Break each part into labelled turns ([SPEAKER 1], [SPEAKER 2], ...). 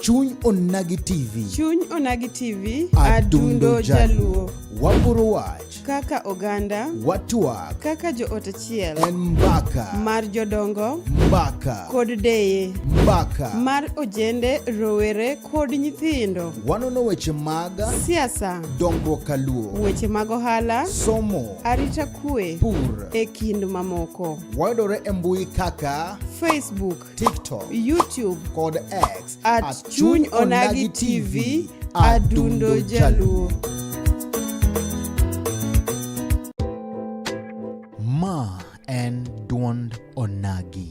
[SPEAKER 1] Chuny Onagi TV. Chuny Onagi
[SPEAKER 2] TV. Adundo
[SPEAKER 1] Jaluo. Waporo wach. Kaka oganda.
[SPEAKER 2] Watwak. Kaka
[SPEAKER 1] joot
[SPEAKER 2] achiel. En mbaka.
[SPEAKER 1] Mar jodongo.
[SPEAKER 2] Mbaka. Kod
[SPEAKER 1] deye.
[SPEAKER 2] Mbaka. Mar
[SPEAKER 1] ojende,
[SPEAKER 2] rowere kod nyithindo. Wanono weche
[SPEAKER 1] mag. Siasa.
[SPEAKER 2] Dongruok kaluo.
[SPEAKER 1] Weche mag ohala.
[SPEAKER 2] Somo. Arita
[SPEAKER 1] kwe.
[SPEAKER 2] Pur. E kind
[SPEAKER 1] mamoko.
[SPEAKER 2] wayudore e mbui
[SPEAKER 1] kaka Facebook,
[SPEAKER 2] TikTok,
[SPEAKER 1] YouTube kod
[SPEAKER 2] X
[SPEAKER 1] at, at Chuny
[SPEAKER 2] Onagi TV Adundo Jaluo.
[SPEAKER 1] Ma en duond Onagi.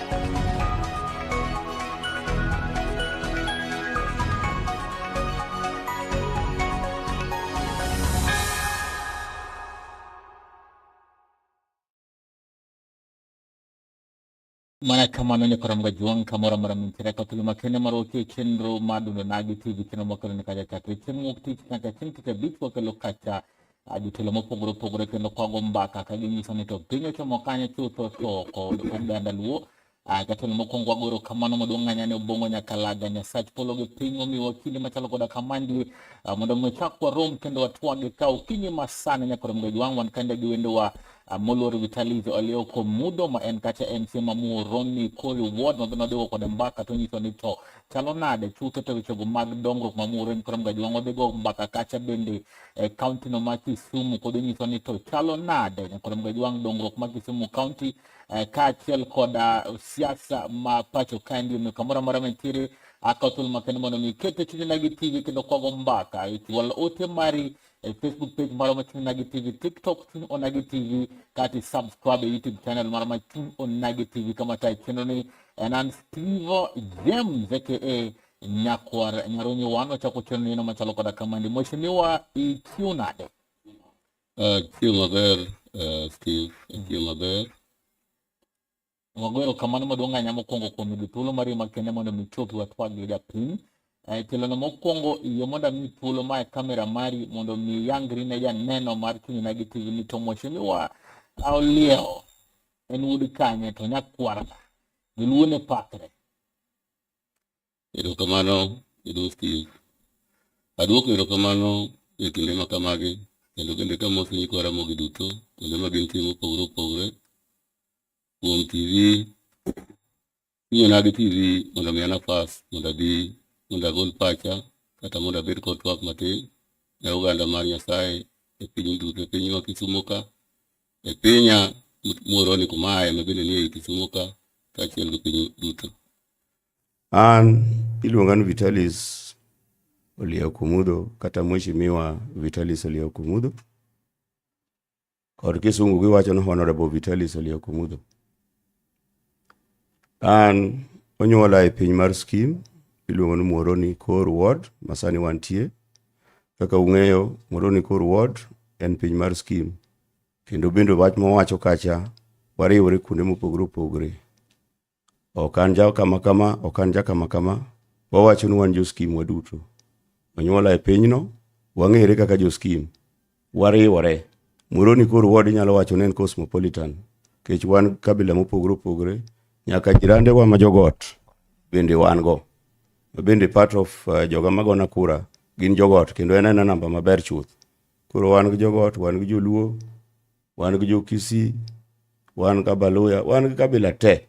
[SPEAKER 3] mana kamano ne karamga juang kamora mara min tira ka tuluma kene maro ke kenro madu ne nagi ti bi kino makalo ne kaja katu chen ngok ti kaka chen kika bit wa kalo kacha jotelo mopogore opogore kendo kwago mbaka ka ginyiso ni to piny ochomo kanye chutho to kod oganda luo jatelo mokwongo wagoro kamano maduong' ng'anya ne obongo nyakalaga nyasach polo gi piny omiwa kinde machalo koda kamandi mondo mi chak warom kendo watwage ka okinyi masani nyaka romgo jwang' wan kande gi wendowa moluor vitalizo alioko mudo ma en kacha en chiema muoroni kori ward mabe nodhigo kode mbaka to nyiso ni to chalo nade chutho to wechego mag dongruok ma muoroni koro mga jwang' odhigo mbaka kacha bende e kaunti no ma Kisumu kod onyiso ni to chalo nade nyakoro mgaji wang' dongruok ma Kisumu kaunti e, kaachiel koda siasa ma pacho kae ndi omiyo kamoro amora mantiere akawo thuolo makende mondo mi ket e chunye nagi tv kendo kwago mbaka e chwal ote mari e facebook page mara ma chuny nagi tv tiktok chuny onagi tv kati subscribe e youtube channel mara ma chuny onagi tv kama tae chenro ni en an stevo james aka Nyakwar Nyarunyi One ochako chon neno machalo koda kamandi. Mheshimiwa ichiw nade? Uh, chiw
[SPEAKER 4] maber, uh, Steve, chiw maber.
[SPEAKER 3] Wagwero kamano maduong' ahinya mokwongo kuom yudo thuolo mar yie makende mondo mi chopi watwag gi japiny. Eh, Tilono mokwongo yie mondo ami thuolo ma e kamera mari mondo mi yangri ne janeno mar Chunyna gi TV ni to mheshimiwa Aoliewo en wuod kanye to nyakwar ng'a? Joluo ne pakre.
[SPEAKER 4] Erokamano e Ruoth Kiyik. Aduoko erokamano e kinde ma kamagi kendo bende kamoso nyikwa Ramogi duto kuonde ma gintie mopogore opogore kuom TV inyonagi TV mondo miya nafas mondo abi mondo agol pacha kata mondo abed kod twak matin ne oganda mar Nyasaye e piny duto e pinywa Kisumo ka e pinya moroni kuma aye ma bende nie Kisumo ka kaachiel gi piny duto.
[SPEAKER 5] An iluonga ni Vitalis Olia Okumudo kata Mheshimiwa Vitalis Olia Okumudo kod kisungu giwacho ni Honorable Vitalis Olia Okumudo. An onyuola e piny mar Skim, iluongo ni Muhoroni Kor Ward, masani wantie. Kaka ung'eyo, Muhoroni Kor Ward en piny mar Skim. Kendo bende wach mawacho kacha, wariwore kuonde mopogore opogore. Ok an ja kama kama, ok an ja kama kama, wawacho ni wan jo Skim waduto. Onyuola e pinyno, wang'ere kaka jo Skim. wariwore. Moroni koro ward inyalo wacho ni en cosmopolitan kech wan kabila mopogore opogore nyaka jirande wa ma jogot bende wan go bende part of uh, joga magona kura gin jogot kendo en ena namba maber chuth koro wan gi jogot wan gi joluo wan gi jokisi wan gi kabaluya wan gi kabila te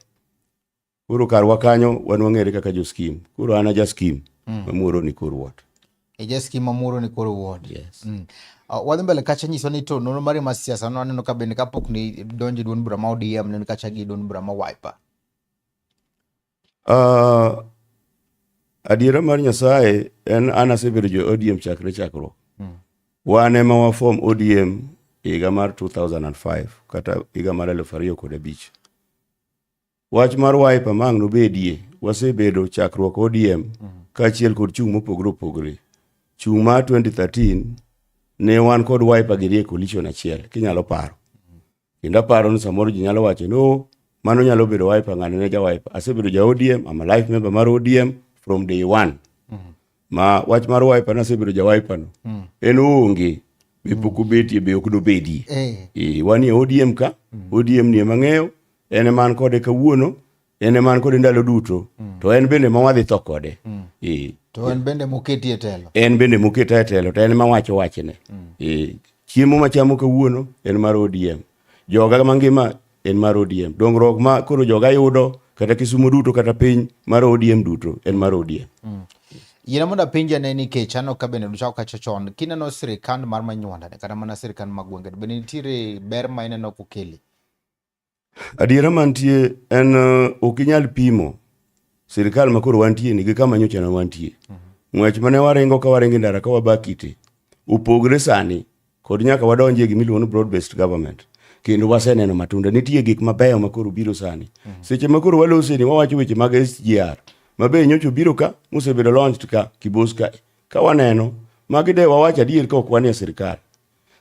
[SPEAKER 5] Koro karwa kanyo wan wang'ere kaka jo skim. Koro an aja skim mm. mamuoro ni kor wot. Eja skim
[SPEAKER 1] mamuoro ni kor wot. Yes. Mm.
[SPEAKER 5] Uh, wadhi mbele
[SPEAKER 1] kacha nyiso ni to nonro mari ma siasa no aneno ka bende kapok ni donje duond bura ma ODM ne kacha gi duond bura ma Wiper.
[SPEAKER 5] Uh, adiera mar Nyasaye en an asebedo jo ODM chakre chakruok. Mm. Wan ema wa form ODM higa mar 2005 kata higa mar 2005. Wach mar wiper ma ang' nobedie, wasebedo chakruok ODM kaachiel kod chung' mopogore opogore. Chung' mar 2013 ne wan kod wiper gi rie coalition achiel kinyalo paro. Kendo aparo ni samoro ji nyalo wacho ni "Oh, mano nyalo bedo wiper ng'ane ne ja wiper. Asebedo ja ODM, I'm a life member mar ODM from day one. ma wach mar wiper nasebedo ja wiper no mm. en onge be mm. pok obetie be ok dobedie eh. e, wan e odm ka mm. odm nie mang'eyo en eman kode kawuono en eman kode ndalo duto mm. to en bende ma wadhi tho kode mm. e, to en
[SPEAKER 1] bende moketi e telo en bende moketa e
[SPEAKER 5] telo to en ma wacho wachne mm. e, chiemo machamo kawuono en mar odm Joga mangima en mar ODM. Dongruok ma koro joga yudo kata Kisumo duto kata piny mar ODM duto en mar ODM. Mm. Yina mondo
[SPEAKER 1] apenja ne nikech ano ka bende duchako kacho chon kineno sirikand mar manywanda kata mana sirikand mag gwenge bende nitiere ber ma ineno kokeli.
[SPEAKER 5] Adiera mantie en uh, ok inyal pimo sirikal ma koro wantie ni gi kama nyocha ne wantie. Mm -hmm. Ng'wech mane waringo ka waringo ndara ka wabakite opogre sani Kod nyaka wadonji e gima iluongo ni broad based government kendo waseneno matunda nitie gik mabeyo ma koro biro sani mm -hmm. seche ma koro waloseni wawacho weche mag SGR ma be nyocho biro ka mosebedo launched ka kibos ka ka waneno magi de wawacho adier ka ok wanie sirkal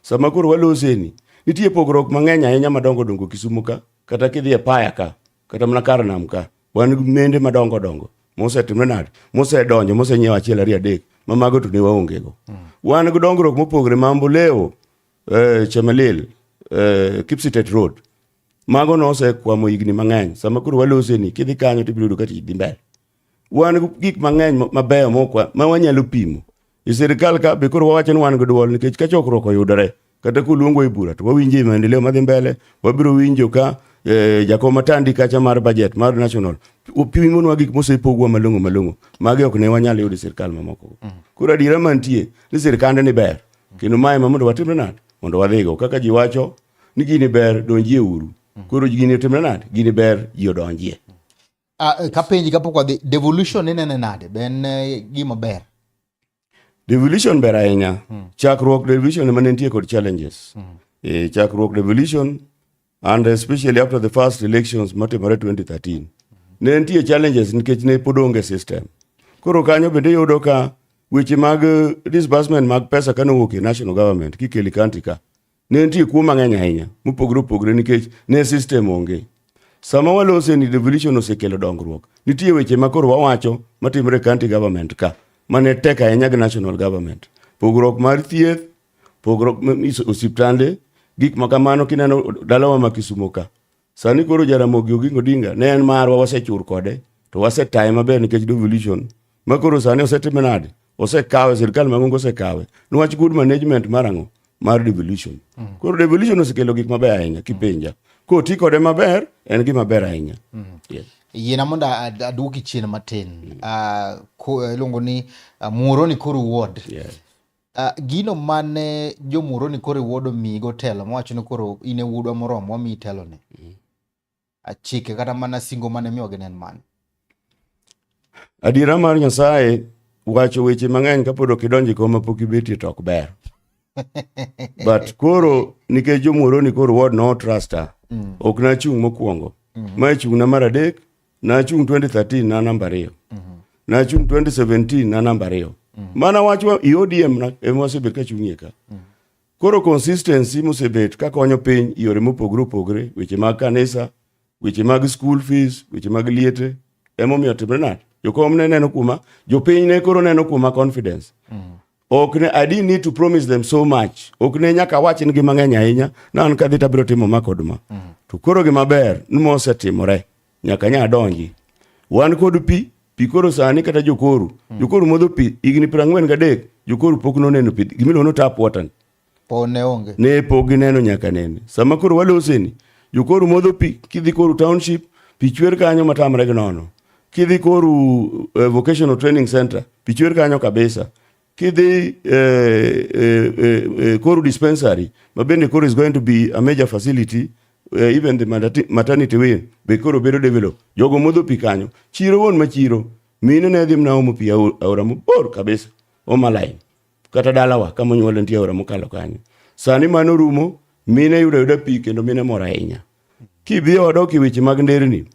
[SPEAKER 5] sama koro waloseni nitie pogruok mang'eny ahinya madongo dongo Kisumu ka kata kidhi e paya ka kata mana kar nam ka wan nende madongo dongo mosetimre nade mosedonjo mosenyiewo achiel ariyo adek ma mago to ne waongego mm. wan gi dongruok mopogore ma mboleo eh, chemelil eh, kipsitet road mago nosekwamo higni mang'eny sama koro waloseni kidhi kanyo tibiro yudo ka tich dhi mbele wan gik mang'eny mabeyo mokwa ma wanyalo pimo e sirikal ka be koro wawacho ni wan gi dwol nikech ka chokruok oyudore kata kuluongo e bura to wawinjo e maendeleo madhi mbele wabiro winjo ka eh, jakom matandi kacha mar budget mar national pimonwa gik mosepogwa malong'o malong'o magi ok ne wanyal yudo e sirikal mamoko mm. koro adiera mantie ni sirikande ni ber kendo mae ma mondo watimre nade mondo wadhigo kaka ji wacho ni gini ber donjie uru koro gini otimre nade gini ber ji odonjie Ah, eh,
[SPEAKER 1] kapenji kapok wadhi devolution inene nade be en eh, gima ber
[SPEAKER 5] devolution ber ahinya hmm. chakruok devolution ema ne nitie kod challenges hmm. e, chakruok devolution and especially after the first elections matimore 2013 hmm. ne nitie challenges nikech ne pod onge system koro kanyo bende yudo ka weche mag eh, disbursement mag pesa kane owuok e national government kikeli county ka ne nitie kuo mang'eny ahinya mopogore opogore nikech ne sistem onge. Sama walose ni devolution osekelo dongruok, nitie weche ma koro wawacho matimre e county government ka mane tek ahinya gi national government. Pogruok mar thieth, pogruok osiptande, gik ma kamano kineno dalawa ma Kisumo ka. Sani koro Jaramogi Oginga Odinga ne en marwa wasechur kode to wasetaye maber nikech devolution ma koro sani osetime nade osekawe sirikal mangongo osekawe niwach good management mar ang'o mar devolution mm. koro devolution osekelo gik maber ahinya kipenja koti kode maber en gima ber ahinya mm. yeah. yiena mondo
[SPEAKER 1] aduoki chien matin mm. uh, iluongo ni uh, muoroni koro wuod yeah. Uh,
[SPEAKER 5] gino
[SPEAKER 1] mane jomuro ni koro iwuodo migo telo mowacho ni koro in e wuodwa moromo wamiyi teloni mm. achike ah, kata mana singo mane miwa ginen mane adiera
[SPEAKER 5] mar nyasaye wacho weche mang'eny kapod ok idonjo e koma pok ibetie to ok ber but koro nikech jomuro ni koro wod no trusta mm. ok nachung' mokwongo mm. ma ichung'na mar adek nachung' 2013 na namba ariyo nachung' 2017 na namba ariyo mana wach wa- i odm na- ema wasebet ka chung'ie ka koro consistency mosebet ka konyo piny i yore mopogore opogore weche mag kanisa weche mag school fees weche mag liete emomiyo timre nade jokom ne neno kuoma jopiny ne koro neno kuoma confidence ok ne I didn't need to promise them so much ok ne nyaka awach nigi mang'eny ahinya na an kadhi tabiro timo ma kod ma mm. to koro gima ber ni mosetimore nyaka nya donji wan kod pi pi koro sani kata jokoru mm. jokoru modho pi higni piero ang'wen gadek jokoru pok noneno pi gimiluongo no tap water Po ne
[SPEAKER 1] onge. Ne po gineno nyaka
[SPEAKER 5] nene. Sama koro waloseni, jokoru modho pi kidhi koru township, pi chwer kanyo matamre gi nono. Kidhi koru uh, vocational training center, pi chwer kanyo kabisa. Kidhi uh, uh, uh, koru dispensary, ma bende koru is going to be a major facility uh, even the maternity wing be koro bedo develop. Jogo modho pi kanyo. Chiro won ma chiro. Mine ne dhi mna omo pi aora mabor kabisa. Oma line. kata dalawa kama onyuola nitie aora mokalo kanyo. Sani mano rumo, mine yudo yuda pi kendo mine mor ahinya. Kidhi e odok e weche mag nderni,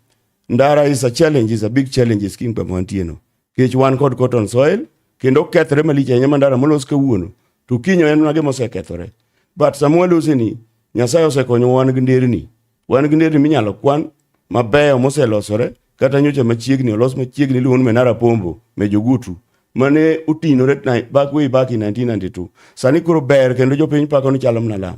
[SPEAKER 5] ndara is a challenge, is a big challenge is king kama wantie no. Kech wan kod cotton soil, kendo kethre malich ahinya mandara molos kawuono, to kinyo en mage mosekethore. But sama walose ni, Nyasaye osekonyo wan gi nderni. Wan gi nderni minyalo kwan mabeyo moselosore kata nyocha machiegni olos machiegni iluongo ni Menara Pombo Mejogutu mane otinore back way back in 1992 sani koro ber kendo jopiny pako ni chalo mna lam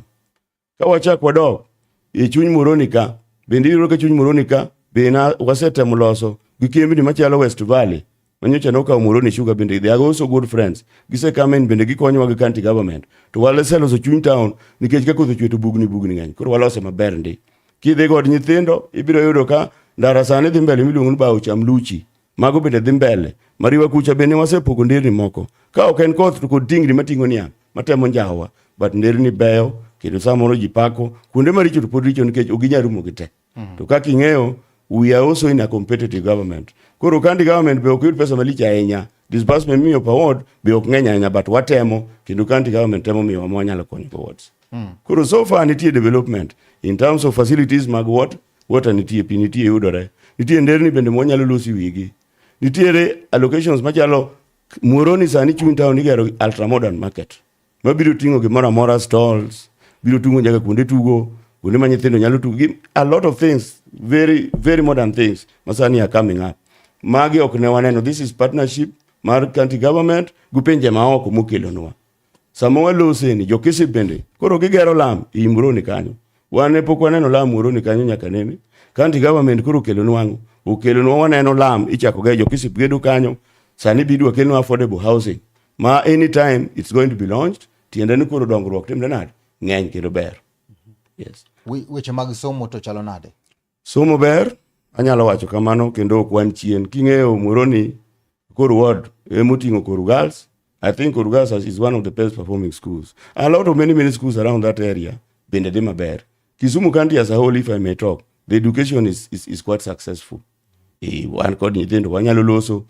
[SPEAKER 5] ka wachak wadok e chuny Moroni ka bende iyudo ka chuny Moroni ka bende wasetemo loso gi kembni machalo West Valley Manyocha nokawo Muhoroni Sugar bende they are also good friends. Gise come in bende gikonyowa gi county government. To waleseloso chuny town nikech ka koth ochwe to bugni bugni ng'eny. Koro walose maber ndi. Kidhi kod nyithindo ibiro yudo ka ndara sani dhi mbele miluongo ni bawo cham luchi. Mago bende dhi mbele. Mariwa kucha bende wasepogo nderni moko. Ka ok en koth to kod tingni mating'o niang' matemo njawa. But nderni beyo kendo samoro ji pako kuonde maricho to pod richo nikech ok ginyal rumo gi te. Mm. To kaka ing'eyo, we are also in a competitive government. Koro kandi government be ok yud pesa malich ahinya. Disbursement miyo per ward be ok ng'eny ahinya but watemo kendo county government temo miyo ma wanyalo konyo go wards. Mm. Koro so far nitie development in terms of facilities mag what water nitie, pi nitie yudore. Nitie nderni bende ma wanyalo losi wigi. Nitiere allocations machalo Muoroni sani chuny town igero ultra modern market. ma biro ting'o gimoro amora stalls biro tungo nyaka kuonde tugo kuonde ma nyithindo nyalo tugo gi a lot of things very very modern things masani are coming up magi ok ne waneno this is partnership mar county government gi pinje maoko mokelonwa sama waloseni jokisi bende koro gigero lam i Muhoroni kanyo wan ne pok waneno lam Muhoroni kanyo nyaka nene county government koro okelonwa ang'o okelonwa waneno lam ichakoga e jokisip gedo kanyo sani bidwa kelnwa affordable housing ma anytime it's going to be launched tiende ni koro dongruok timre nade ng'eny kendo ber yes weche mag
[SPEAKER 1] somo to chalo nade somo ber
[SPEAKER 5] anyalo wacho kamano kendo ok wan chien king'eyo moro ni koro ward emoting'o koro girls i think koro girls is one of the best performing schools a lot of many many schools around that area bende dhi maber kisumu county as a whole if i may talk the education is, is, is quite successful e, wan kod nyithindo wanyalo loso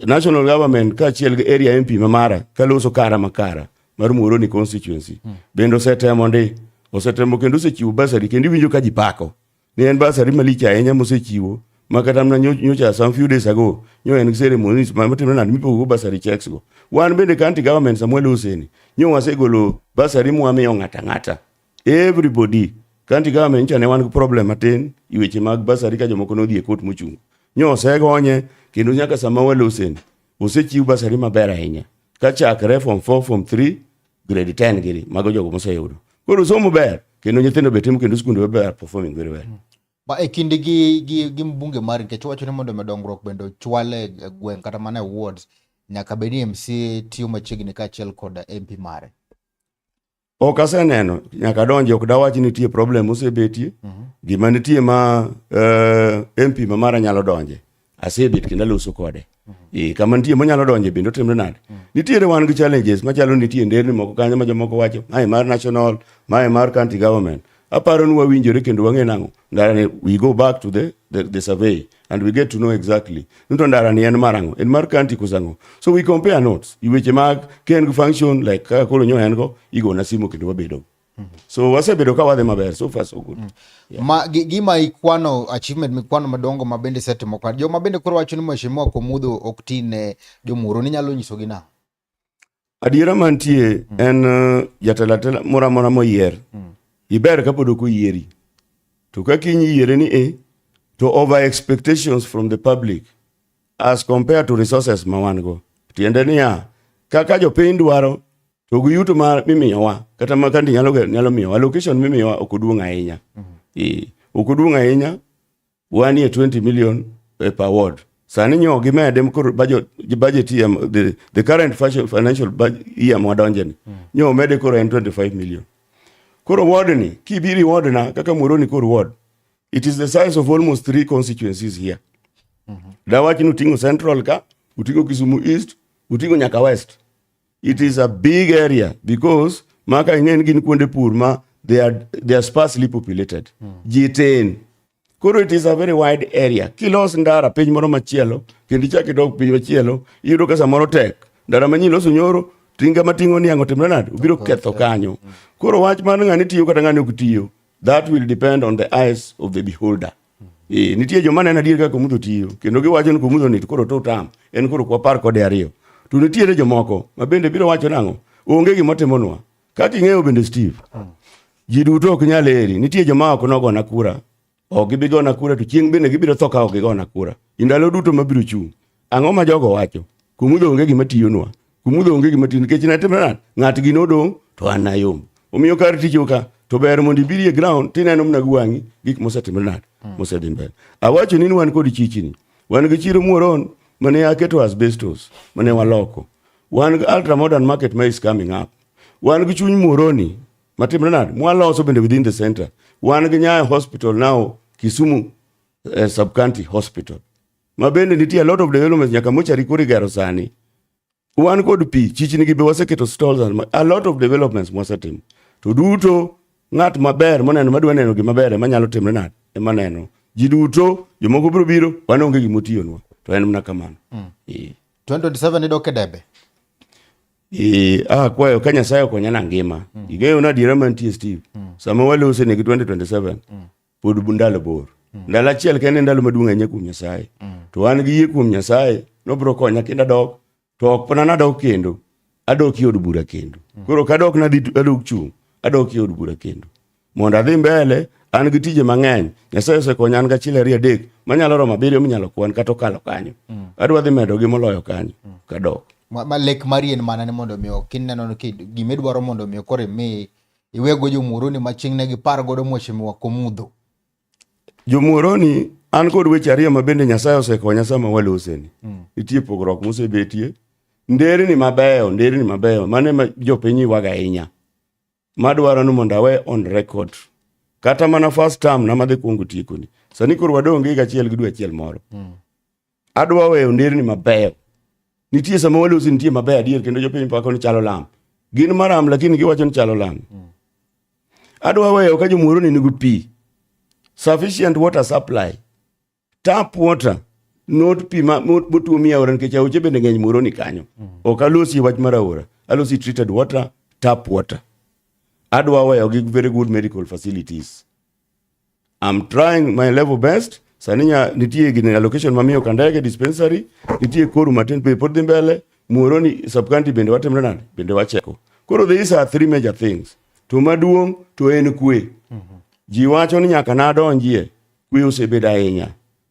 [SPEAKER 5] national government kaachiel gi area MP ma mara kaloso kara ma kara mar Muhoroni constituency hmm. bende osetemo ndi osetemo kendo osechiwo basari kendo iwinjo ka ji pako ni en basari malich ahinya mosechiwo ma kata mna nyocha some few days ago nyo en ceremonies ma matimo nani mipogo basari checks go wan bende county government Samuel Hussein nyo wasegolo basari mwamiyo ng'ata ng'ata everybody county government nyicha ne wan gi problem matin i weche mag basari ka jomoko nodhi e kot mochung' nyo osegonye kendo nyaka sama walosen osechiw basari maber ahinya ka chakre form 4 form 3 grade 10 giri mago jogo moseyudo koro somo ber kendo nyithindo be timo kendo skunde ber performing very well ba e kinde gi
[SPEAKER 1] gi gi mbunge mari nikech wacho ni mondo medongruok bende ochwale e gweng' kata mana e wards nyaka bed ni mc tiyo machiegni kaachiel kod mp mare
[SPEAKER 5] Ok aseneno nyaka donje ok dawach ni nitie problem mosebetie. Mm -hmm. Gima nitie ma uh, eh, MP ma mara nyalo donje. Asebet kendo aloso kode. Mm -hmm. E, kama nitie monyalo donje bende otimre nade. Mm -hmm. Nitiere wan gi challenges machalo nitie nderni moko kanyo ma jomoko wacho, mae mar national, mae mar county government. Aparo ni wawinjore kendo wang'e nang'o. ndarani we go back to the, the, the survey and we get to know exactly nito ndarani en marango en mar kanti kusango so we compare notes iweche mag ken function like kaka koro nyo en go igo na simo kendo wabedo mm -hmm. so wasebedo ka wadhi maber so far so good mm -hmm. yeah. ma
[SPEAKER 1] gima ikwano achievement mikwano madongo ma bende setimo kwa jo ma bende koro wacho ni mheshimiwa komudho ok tine jomuro ni nyalo nyiso gi na Adiera
[SPEAKER 5] mantie mm. en uh, jatelo atela moro amora moyier mm. iber kapod ok oyieri to ka kiny iyiere ni e to over expectations from the public as compared to resources ma wan go tiende niya kaka jopiny dwaro to gi yuto ma mimiyowa kata ma kandi nyalo nyalo miyowa location mimiyowa ok oduong' ahinya mm. e ok oduong' ahinya wanie 20 million eh, per ward sani nyo gimede koro budget budget the, the current financial budget year mwadonjeni mm. nyo mede koro en 25 million koro ward ni kibiri ward na kaka moroni koro ward it is the size of almost three constituencies here mm -hmm. dawachni uting'o central ka uting'o kisumu east uting'o nyaka west it is a big area because maka ing'eni gin kuonde pur ma they are, they are sparsely populated mm. ji tin koro it is a very wide area kilos ndara piny moro machielo kendo ichak idok piny machielo iyudo ka samoro tek ndara manyien loso nyoro tinga mating'o niang' otimre nade obiro ketho kanyo hmm. koro wach mar ng'ani tiyo kata ng'ani ok tiyo that will depend on the eyes of the beholder Eh, nitie joma neno adier kaka komudho tiyo kendo giwacho ni komudho ni koro to utam en koro kwa par kode ariyo to nitiere jomoko ma bende biro wacho nang'o onge gima timonwa kaka ing'eyo bende steve ji duto ok nyal eri nitie joma ok nogona kura ok gibi gona kura to chieng' bende gibiro tho ka ok gigona kura i ndalo duto mabiro chung' Ang'o ma jogo wacho? Kumudho onge gima tiyonwa. Kumudho onge gima tiyo nikech natimo nade? Ng'atgi nodong' to an nayom. Omiyo kar tich oka to ber mondo ibiri e ground tineno mna gi wang'i gik mosetimre nade hmm. mosedhi mbele. Awacho ni wan kod chichini. Wan gi chiro muoron mane aketo asbestos mane waloko. Wan gi ultra modern market ma is coming up. Wan gi chuny muoroni matimre nade? Mwaloso bende within the center. Wan gi Nyayo hospital now Kisumu eh, sub county hospital. ma bende nitie a lot of developments nyaka mochari kuri gero sani wan kod pi chichni gi be waseketo stalls a lot of developments mwasetimo to duto ng'at maber moneno madwa neno gima ber ema nyalo timre nade ema neno ji duto jomoko biro biro wan onge gima otiyonwa to en mana kamano mm.
[SPEAKER 1] 2027 idok e debe Eh, ah,
[SPEAKER 5] kwayo ka Nyasaye okonya na ngima. Mm. Ing'eyo na adiera mantie Steve. Mm. Sama walose ne gi 2027. Mm. pod ndalo bor mm. ndalo achiel kende ndalo maduong' ahinya kuom nyasaye mm. to an gi yie kuom nyasaye nobiro konya kendo adok to ok pona nadok kendo adok i od bura kendo mm. koro kadok nadhi adok chung' adok i od bura kendo mondo adhi mbele an gi tije mang'eny nyasaye osekonya an gachiel ariyo adek manyalo romo abiriyo minyalo kwan kata okalo kanyo mm. adwa dhi medo gi moloyo kanyo mm. kadok ma lek mari
[SPEAKER 1] en mana ni mondo mi kineno ni gima idwaro mondo mi koro imi iwego jomuoroni ma chieng' ne gipar godo mweche miwa komudho.
[SPEAKER 5] Jomuoroni an kod weche ariyo ma bende Nyasaye osekonya sama waloseni. Mm. Nitie pogruok mosebetie. Nderni mabeyo, nderni mabeyo, mane ma jopiny ywaga ahinya. Madwaro ni mondo awe on record. Kata mana first term na madhi kuongo tiekoni. Sani koro wadonge higa achiel gi dwe achiel moro. Mm. Adwa weyo nderni mabeyo. Nitie sama walosi nitie mabeyo adier kendo jopiny pako ni chalo lam. Gin maram lakini giwacho ni chalo lam. Adwa weyo ka jomuoro ni nigi pi. Sufficient water supply. Tap water not pi ma botuo mi aora nikech aoche bende ng'eny muoro ni kanyo. Ok alosi wach mar aora. Alosi treated water, tap water. Adwa weyo gi very good medical facilities. I'm trying my level best. Sani nya nitie gine allocation mamiyo Kandege dispensary, nitie Koru matin pe pod dhi mbele, Muhoroni sub county bende watimre nade? Bende wacheko. Koro these are three major things. To maduong' to en kwe. Ji wacho ni nyaka nadonjie, kwe osebedo ahinya.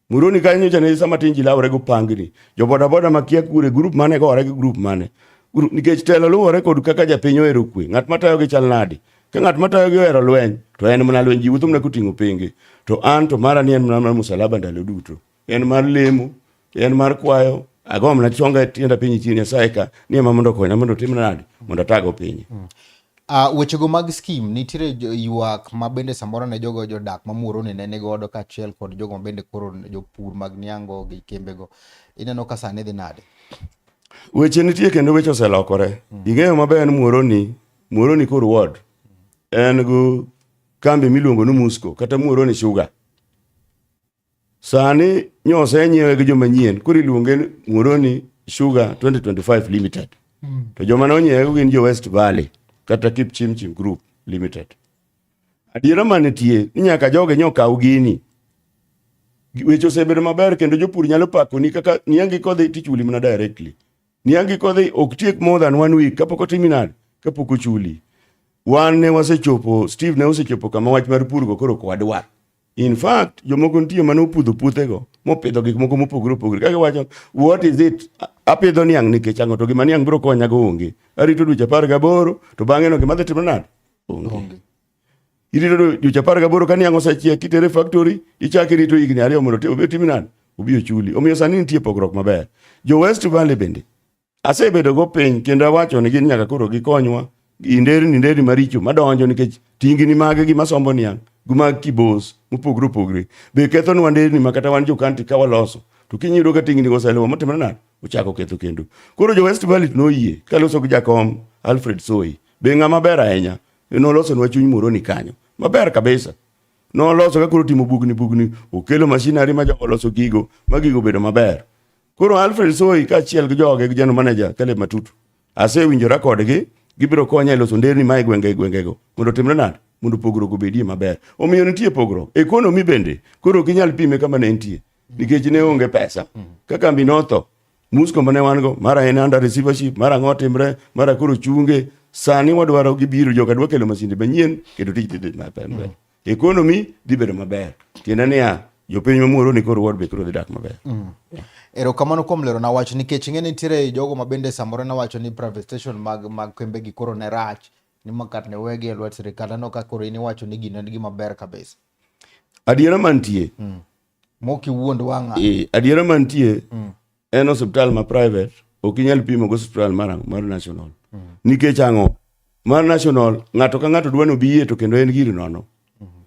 [SPEAKER 5] Muroni kanyo nyocha ne sama tin ji lawore go pangni. Jo bodaboda makia kure grup mane gore gi grup mane. Gru- Nikech telo luwore kod kaka japiny ohero kwe. Ng'at matayogi chal nadi? Ka ng'at matayogi ohero lweny, to en mana lweny. Ji wuotho mana koting'o pingi. To an to mara ni en mana mar musalaba ndalo duto. En mar lemo, en mar kwayo. Agomna chonga e tienda piny chien Nyasaye ka ni ema mondo okonya mondo otimna nadi mondo atago pinye. Uh, wechego
[SPEAKER 1] mag skim nitiere ywak ma bende samoro ne jogo jodak ma Muhoroni ne nigodo kaachiel kod jogo ma bende koro jopur mag niango gi kembego ineno ka sani dhi nade? Weche
[SPEAKER 5] nitie kendo weche oselokore. Mm. Ing'eyo maber ni Muhoroni, Muhoroni kor ward en gi kambi miluongo ni Musco kata Muhoroni Sugar. Sani nyo osenyiewe gi joma nyien, koro iluonge ni Muhoroni Sugar 2025 Limited. Mm. To joma nonyiewe gin jo West Valley kata Kipchimchim Group Limited. Adiera manitie ni nyaka joge nyo kaw gini. Weche osebedo maber kendo jopur nyalo pakoni kaka niangi kodhi tichuli mana directly. Niangi kodhi ok tiek more than one week kapok otimi nade kapok ochuli. Wan ne wasechopo, Steve ne osechopo kama wach mar purgo koro kwadwar. In fact, jomoko nitie mane opudho puothego mopidho gik moko mopogore opogore. Kaka wacho, what is it? Apidho niang' nikech ang'o to gima niang' biro konya go onge. Arito dweche apar gaboro to bang'e no gima dhi timo nade? Onge. Irito dweche apar gaboro ka niang' osechiek kitere factory ichako irito higni ariyo mondo obed timi nade? Obi ochuli. Omiyo sani nitie pogruok maber. Jo West Valley bende Asebedogo piny kendo awacho ni gin nyaka koro gikonywa gi nderni nderni maricho madonjo nikech tingini mage gi masombo niang' gi mag kibos mopogre opogre be kethonwa nderni ma kata wan jokanti ka waloso to kinyiyudo ka tingini oseluwa motimre nade ochako ketho kendo koro jo west valley noyie kaloso gi jakom alfred soy be ng'a maber ahinya nolosonwa chuny moro ni kanyo maber kabisa noloso ka koro timo bugni bugni okelo mashinari ma jogo loso gigo ma gigo bedo maber Koro Alfred Soi kaachiel gi joge gi general manager Caleb Matutu asewinjora kodgi gibiro konya e loso nderni ma e gwenge gwengego mondo otimre nade mondo pogruok obedie maber. Omiyo nitie pogruok. Ekonomi bende koro ok inyal pime kama ne entie nikech ne onge pesa. Ka kambi notho, musko mane wan go, mara en under receivership, mara ang'o timre, mara koro chunge. Sani wadwaro gibiro joka dwa kelo masinde manyien kendo tij dhi maber. ekonomi dhi bedo maber tiende niya jopiny mamuoro ni koro wad be koro dhi dak maber mm. erokamano
[SPEAKER 1] kuom lero na wacho nikech ing'e nitiere jogo ma bende samoro ne wacho ni private station mag mag kembe gi koro ne rach ni makat ne wegi e lwet sirikal aneno ka koro in iwacho ni gino en gima ber kabisa adiera
[SPEAKER 5] mantie mm.
[SPEAKER 1] mokiwuond wang'a e, adiera mantie
[SPEAKER 5] mm. en osiptal ma private ok inyal pimo go osiptal mar mar national mm. nikech ang'o mar national ng'ato ka ng'ato dwani obi yie to kendo en giri nono mm -hmm.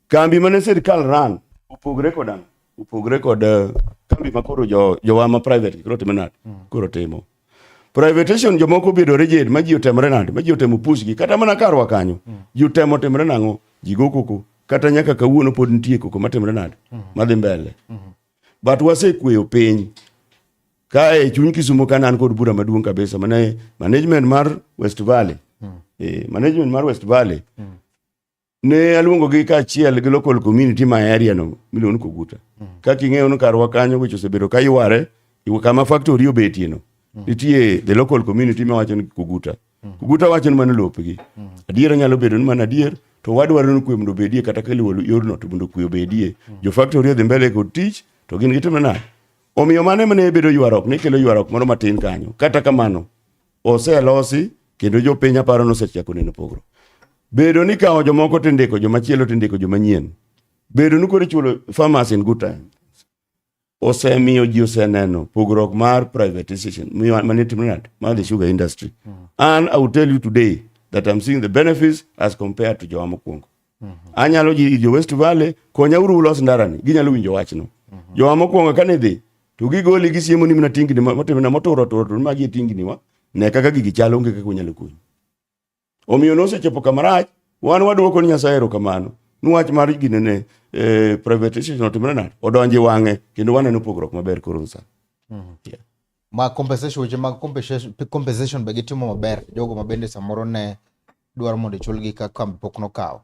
[SPEAKER 5] kambi mane sirikal ran opogre kod ang' opogre kod eh, kambi ma koro jo jowa ma private koro timo nade mm. koro timo privatation jomoko obedo rigid ma ji otemre nade ma ji otemo pushgi kata mana karwa kanyo mm. ji otemo timre nang'o ji go koko kata nyaka kawuono pod nitie koko matimre nade mm. madhi mbele mm -hmm. but wasekweyo piny kae chuny Kisumo ka nan kod bura maduong' kabisa mane management mar West Valley mm. eh, management mar West Valley mm. ne aluongo gi kaachiel gi local community ma area no miluongo ni Koguta mm. kaka ing'eyo ni karwa kanyo weche osebedo ka yware kama factory obetie no mm. nitie the local community ma wacho ni Koguta Oguta wacho ni mano lopgi. Adiera nyalo bedo ni mano adier to wadwaro ni kwe mondo obedie kata ka luwo yorno to mondo kwe obedie. Jo faktori odhi mbele kod tich to gin gitimo nade? Omiyo mano ema ne bedo ywaruok, ne kelo ywaruok moro matin kanyo. Kata kamano, oselosi kendo jopiny aparo nosechako neno pogruok. Bedo ni kawo jomoko tindiko, jomachielo tindiko, jomanyien. Bedo ni koro ichulo farmers in good time. osemiyo ji oseneno pogruok mar privatization mane timre nade mar the sugar industry mm. and i will tell you today that i'm seeing the benefits as compared to jowa mokwongo mm -hmm. anyalo ji jo west valley konya uru ulos ndarani ginyalo winjo wachno mm -hmm. jowa mokwongo kane dhi to gigoli gisiemo ni mna tingni motimna moturo turo to magi e tingni wa ne kaka gigi chalo onge kaka unyalo konyi Omiyo nosechopo kama rach, wan wadwoko ni Nyasaye erokamano ni wach mar ginene eh, privatization otimre nade odonji wang'e kendo waneno pogruok maber koro sani.
[SPEAKER 1] Mm. Yeah. Ma compensation weche mag compensation, compensation be gitimo maber jogo ma bende samoro ne dwaro mondo ichulgi ka kambi pok nokawo.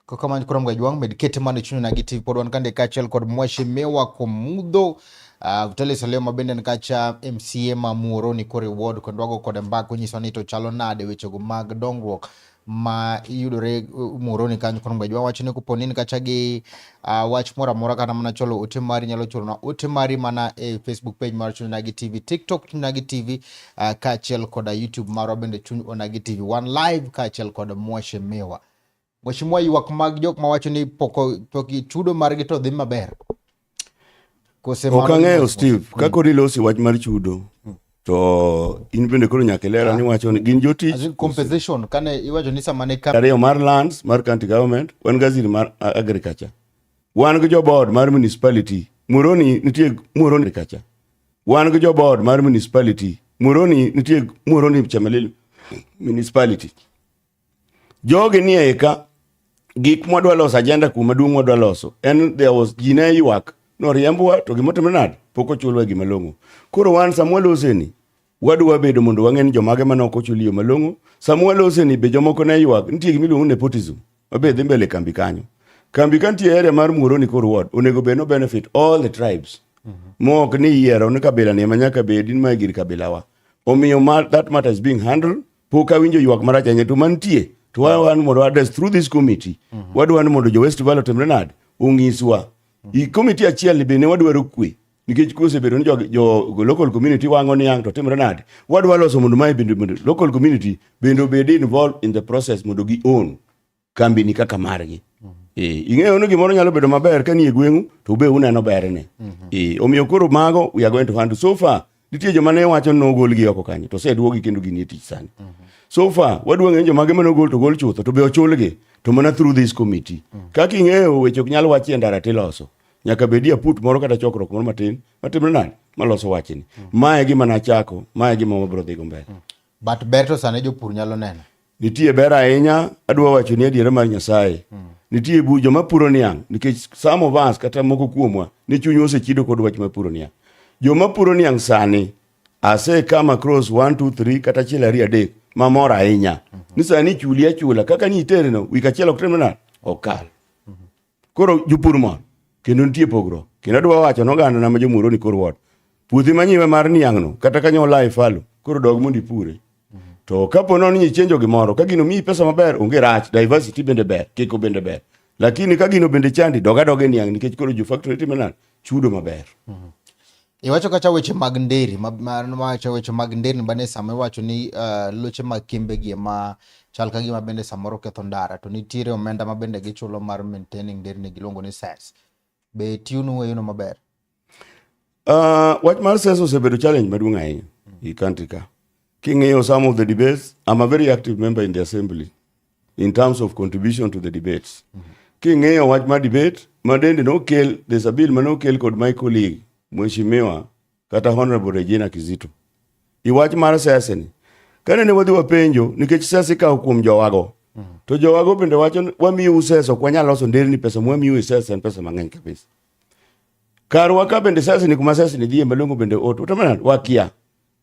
[SPEAKER 1] Kokamany kurom ga jwang med kete mane chuno na gi TV pod wan kande kachel kod mwashi mewa ko mudho uh, ah, Vitalis Salema bende ni kacha MCA ma muoro ni kore ward kod wago kod mbako nyiso ni to chalo nade weche go mag dongruok ma yudore uh, muoro ni kanyo kurom ga jwang wacho ni kuponi ni kacha gi uh, wach moro amora kata mana cholo ote mari nyalo chorona ote mari mana e facebook page mar chuny onagi tv tiktok chuny onagi tv uh, ah, kaachiel koda youtube marwa bende chuny onagi tv one live kaachiel kod mwashe miwa mweshimiwa ywak mag jok mawacho ni poko, poki chudo margi to dhi maber
[SPEAKER 5] ok ang'eyo steve kaka odilosi wach mar chudo hmm. to in bende koro nyaka ilera ah. ni wacho ni gin jotich as in compensation kane
[SPEAKER 1] iwacho ni sama ne kare yo mar lands mar
[SPEAKER 5] county government wan gaziri mar agriculture wan gi jobod mar municipality muroni nitie muroni agriculture wan gi jobod mar municipality muroni nitie muroni chamelil municipality Jogi ni eka gik mwadwa loso ajenda kuma duong' mwadwa loso en there was ji ne ywak noriembwa to gima otimre nade pok ochulwa gima long'o koro wan sama waloseni wadwa bedo mondo wang'e ni jomage mane ok ochul yo malong'o sama waloseni be jomoko ne ywak nitie gima iluongo nepotism mabe dhi mbele kambi kanyo kambi ka nitie area mar muoroni kor ward onego bed no benefit all the tribes mm -hmm. mok ni yiero ni kabila ni ema nyaka bedi ma gir kabilawa omiyo that matter is being handled Pok awinjo ywak marach ahinya to mantie to wan mondo address through this committee mm -hmm. wadwani mondo jo West Valley otimre nade onyiswa mm -hmm. committee achiel ni bende wadwaro kwe nikech kose bedo ni jo, jo local community wango niang to timre nade wadwa loso mondo mae bende local community bende obed involved in the process mondo gi own kambi ni kaka margi mm -hmm. e, ing'eyo ni gimoro nyalo bedo maber ka nie gweng'u to ube uneno berne mm -hmm. e, omiyo koro mago we are going to handle so far nitie joma ne wacho ni nogolgi oko kanyo to oseduogi kendo ginie tich sani mm -hmm. so far wadwa ng'eyo jomage ma nogol to gol chutho to be ochulgi to mana through this committee mm -hmm. kaka ing'eyo weche ok nyal wachi e ndara tiloso nyaka bedie aput moro kata chokruok moro matin matimre nani maloso wachni mm -hmm. mae gima nachako mae gima wabiro dhigo mbele mm -hmm. But ber to
[SPEAKER 1] sane jopur nyalo neno. Nitie ber ahinya,
[SPEAKER 5] adwa wacho ni adiera mar Nyasaye. Mm. Nitie bu joma puro niang' nikech some of us kata moko kuomwa ni chunywa osechido kod wach mapuro niang'. Joma puro niang' sani ase come across 1 2 3 kata achiel ariyo adek mamor ahinya. Mm -hmm. Ni sani chuli achula kaka ni itereno wik achiel ok temna okal. Koro jopur mor kendo nitie pogruok. Kendo adwa wacho noganda na ma jomuro ni kor wot. Puothi manyiwe mar niang'no kata kanyo olaye falo koro dog mondo ipure. To kapo nono ni ichenjo gimoro ka gino miyi pesa maber onge rach diversity bende ber kiko bende ber. Lakini ka gino bende chandi doga doga e niang' nikech koro jo factory time nani chudo maber. Iwacho
[SPEAKER 1] kata weche mag nderi mawacho weche mag nderni bane sama iwacho ni uh, loche mag kimbegi ema chal ka gima bende samoro ketho ndara to nitiere omenda ma bende gichulo mar maintaining nderni giluongo ni SARS. Be tiyonu weyono maber?
[SPEAKER 5] Uh, wach mar SARS osebedo challenge maduong' ahinya mm. i country ka. King'iyo some of the debates, I'm a very active member in the assembly. in terms of contribution to the debates. Mm -hmm. King'iyo wach ma debate ma dende nokel there's a bill ma nokel kod my colleague Mheshimiwa kata Honorable Regina Kizito. I wach mar siasa ni kane ne wadhi wapenjo nikech siasa ikawo kuom jowago. Mm -hmm. To jowago bende wacho wamiyo siasa ok wanyal loso nderni pesa mwamiyo siasa en pesa mang'eny kabisa. Kar waka bende siasa ni kuma siasa ni dhie malongo bende oto. Utamana wakia.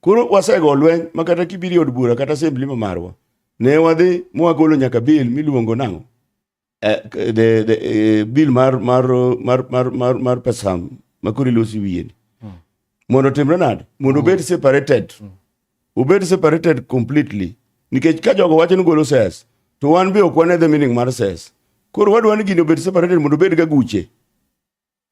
[SPEAKER 5] Koro wasego lweny makata kibiri od bura kata assembly ma marwa. Ne wadhi mwagolo nyaka bil miluongo nang'o? Eh, the, the, eh, bil mar, mar, mar, mar, mar, mar pesa ma koro ilosi wiye ni. Hmm. Mondo timre nade? Mondo obed separated. Hmm. Obed separated completely. Nikech ka jogo wacho ni golo ses, to wan be ok wane the meaning mar ses. Koro wadwa ni gini obed separated mondo obed ga guche.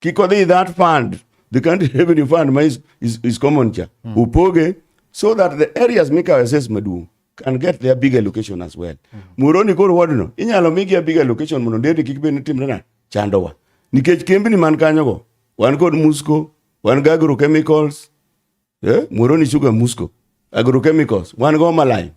[SPEAKER 5] Kikodhi that fund, the country revenue fund ma is, is, is common cha. Mm. Upoge so that the areas mikawe says maduong can get their big allocation as well. Mm. Muroni koro wadno inyalo migi a big allocation mondo ndeti kik bed ni timre na chandowa. Nikech kembni man kanyogo wan kod Musco, wan gi agrochemicals, eh, Muhoroni Sugar Musco, Agrochemicals, wan go Malayo.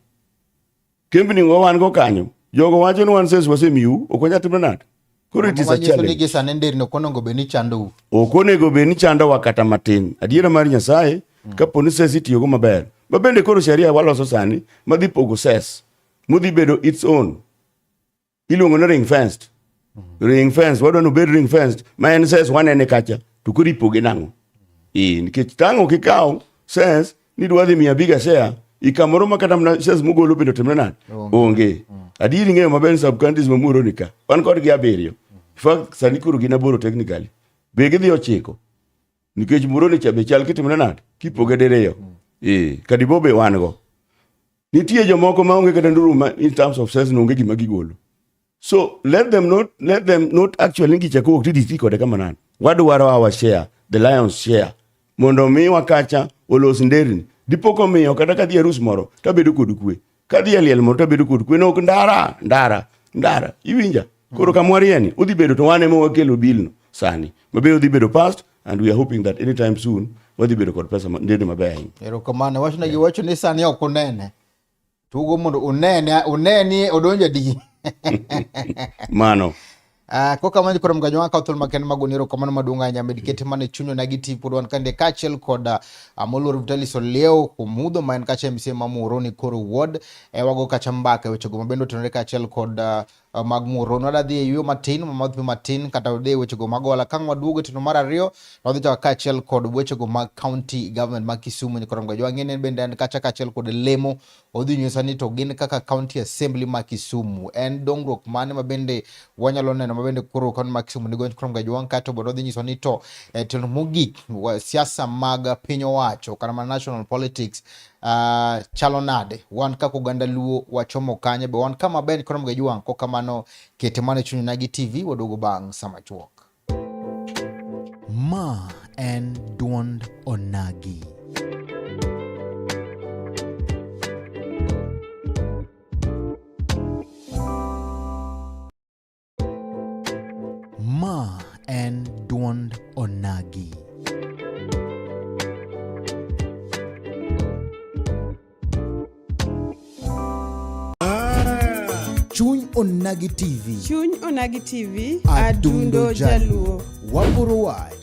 [SPEAKER 5] Kembni go wan go kanyo. Jogo wacho ni wan sales wasemiu, ok wanyal timo nade? Koro it is a challenge. Nigi sane nderni ok onego
[SPEAKER 1] bed ni chandou. Ok onego bed ni
[SPEAKER 5] chandowa kata matin. Adiera mar Nyasaye mm. kapo ni sales itiyogo maber. Ma bende koro sheria waloso sani madhi pogo sales. Mudhi bedo its own. iluongo ni ring fenced ring fence wadwa ni obed ring fenced ma en sense wanene kacha to koro ipoge nang'o ee nikech tango kikawo sense ni dwa dhi miya biga share ikamoro ma kata mana sense mogolo bende otimre nade onge adieri ng'eyo maber ni sub counties mamuoro ni ka wan kodgi abiriyo In fact sani koro gin aboro technically be gidhi ochiko nikech muoro ni cha be chal kitimre nade kipoge diriyo ee kadibo be wan go Nitie jomoko ma onge kata nduru ma in terms of sense onge gima gigolo. So let them not let them not actually ngi chako ti DC kode kama nan. Wadwaro our share, the lion's share. Mondo mi wakacha olos nderin. Dipo ko miyo kata kadhi arus moro tabedo kod kwe. Kadhi aliel moro tabedo kod kwe. No ndara, ndara, ndara. Iwinja? Koro kama warie ni udhi bedo to wan ema wakelo bilno sani. Mabe udhi bedo past and we are hoping that anytime soon wadhi bedo kod pesa ndende maber ahinya. Erokamano. Wach ne
[SPEAKER 1] giwacho ni sani ok unene. Tugo mondo unene, uneni odonjo di.
[SPEAKER 5] Mano. Uh,
[SPEAKER 1] ko kamano koro mgajo waka othol maken mago nero kamano maduong' ahinya med kete mane chunyo na giti pod wan kande kaachiel kod uh, ah, moluor Vitalis Oleo Kumudho ma en kacha MCA ma Muhoroni koro ward e wago kacha mbaka e wechego mabende otenore kaachiel kod uh, Eh, mag muro nwa dadhi e yueyo matin mamadhpi matin kata wade e wechego mag ohala ka nwaduogo e tino mar ariyo nwadhi chaka kaachiel kod wechego mag county government mag Kisumu ni korongo jwang'e ne bende en kacha kaachiel kod lemo odhi nyisa ni to gin kaka county assembly ma Kisumu en dongruok mane ma bende wanyalo neno ma bende koro kaunti ma Kisumu nigo ni korongo jwang' kato bende odhi nyisa ni to e tino mogik siasa mag piny owacho kata ma national politics uh, chalo nade wan kaka oganda luo wachomo kanye be wan kama ben kono mga juang ko kamano kete mane chunyo na gi tv waduogo bang sama chuok ma en duond onagi Ma en dwond onagi. Chuny Onagi TV. Chuny Onagi
[SPEAKER 2] TV, Adundo Adundo Jaluo.
[SPEAKER 1] Jaluo.
[SPEAKER 2] Waporo wach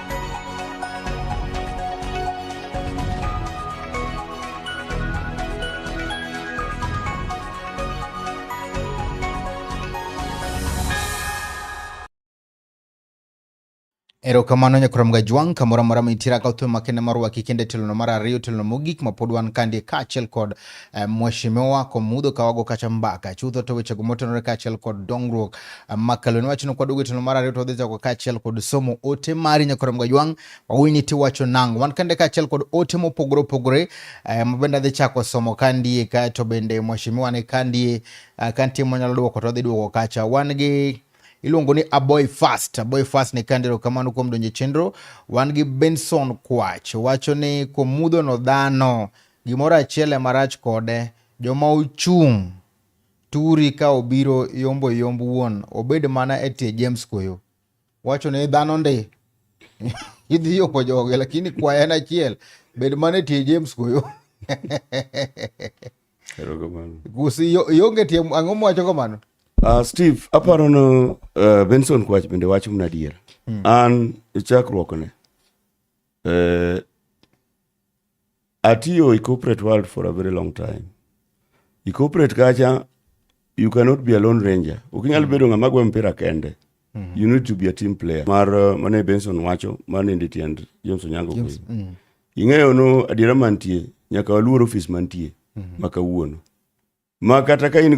[SPEAKER 1] Erokamano nyakuram gajwang' kamoro amora mintiere ka utwe makende marwa kikende telono mar ariyo telono mogik mapod wan kandie kaachiel kod eh, Mheshimiwa Komudo Kawago kacha mbaka chutho to wechego motenore kaachiel kod dongruok eh, makalo ne wachno kwaduogo tielo mar ariyo to wadhi chako kaachiel kod somo ote mari nyakorem gajwang' wawini tiwacho nango wan kende kaachiel kod ote mopogore opogore eh, mabende adhi chako somo kandie kae to bende Mheshimiwa ni kandie kantie monyalo duoko to odhi duoko kacha wan gi iluongo ni Aboy Fast. Aboy Fast ni kandero kamano kuom donje chenro. Wan gi Benson Kwach wacho ni komudho no dhano Gimoro achiel ema rach kode, joma ochung' turi ka obiro yombo yomb wuon obed mana e tie James Koyo. Wacho ne dhano ndi. Idhi yombo joge lakini kwaya en achiel. Bed mana e tie James Koyo. Erokamano. Gusi yonge tie ang'o mwacho kamano? Uh, Steve,
[SPEAKER 5] aparo no uh, Benson Kwach bende wacho mna adier. Hmm. An e chakruokne. Eh, Atiyo e corporate world for a very long time. E corporate kacha you cannot be a lone ranger. Ok inyal bedo ng'ama gwe mpira kende. Mm-hmm. You need to be a team player. Mar uh, mane Benson wacho, mane ndi tiend James Onyango James, kwe. Mm. Ing'eyo no adiera mantie, nyaka waluor ofis mantie, mm-hmm. maka uono. Ma kata ka in